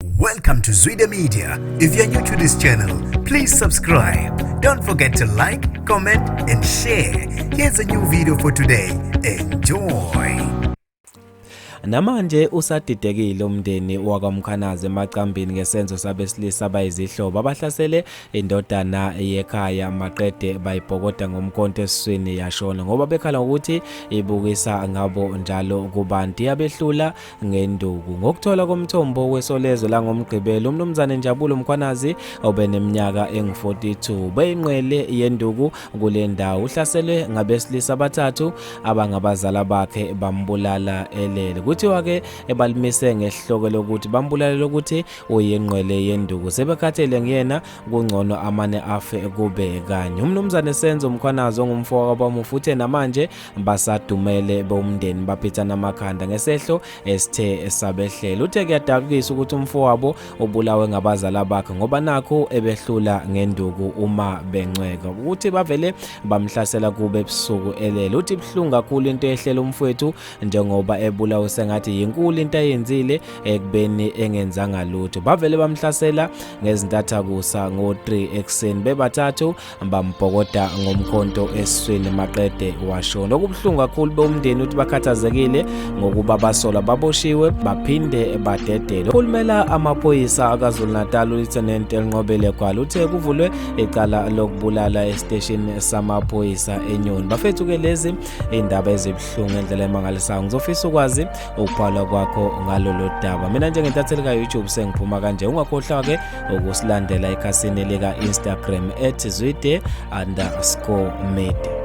Welcome to Zwide Media. If you're new to this channel, please subscribe. Don't forget to like, comment and share. Here's a new video for today. Enjoy. Namanje usadidekile umndeni wakwamkhanaze emacambini ngesenzo sabesilisa bayizihlobo abahlasele indodana yekhaya maqede bayibhokoda ngomkhonto esiswini yashona ngoba bekhala ukuthi ibukisa ngabo njalo kubantu yabehlula ngenduku ngokuthola komthombo wesolezwe langomgqibelo umnumzane Njabulo Mkhwanazi obeneminyaka engu-42 beyinqwele yenduku kule ndawo uhlaselwe ngabesilisa abathathu abangabazala bakhe bambulala elele kuthiwa-ke ebalimise ngesihloko lokuthi bambulalela ukuthi uyinqwele yenduku sebekhathele nguyena kungcono amane afe kube kanye umnumzane Senzo Mkhwanazi ongumfo wakwabamufu uthe namanje basadumele bomndeni baphithana amakhanda ngesehlo esithe esabehlela uthe kuyadabukisa ukuthi umfowabo ubulawe ngabazala bakhe ngoba nakho ebehlula ngenduku uma bencweka ukuthi bavele bamhlasela kube ebusuku elele uthi buhlungu kakhulu into ehlela umfowethu njengoba ebulawe sengathi yinkulu into ayenzile ekubeni engenzanga lutho bavele bamhlasela ngezintathakusa ngo-3 ekuseni bebathathu bambhokoda ngomkhonto esiswini maqede washo nokubuhlungu kakhulu bewumndeni uthi bakhathazekile ngokuba basola baboshiwe baphinde badedelwe ukhulumela amaphoyisa akazulu-natal ulieutenant elinqobele gwala uthe kuvulwe icala lokubulala esiteshini samaphoyisa enyoni bafethu-ke lezi iy'ndaba ezibuhlungu endlela emangalisayo ngizofisa ukwazi ukubhalwa kwakho ngalolo daba mina njengentatheli ka-youtube sengiphuma kanje ungakhohlwa-ke ukusilandela ekhasini lika-instagram at zwide underscore media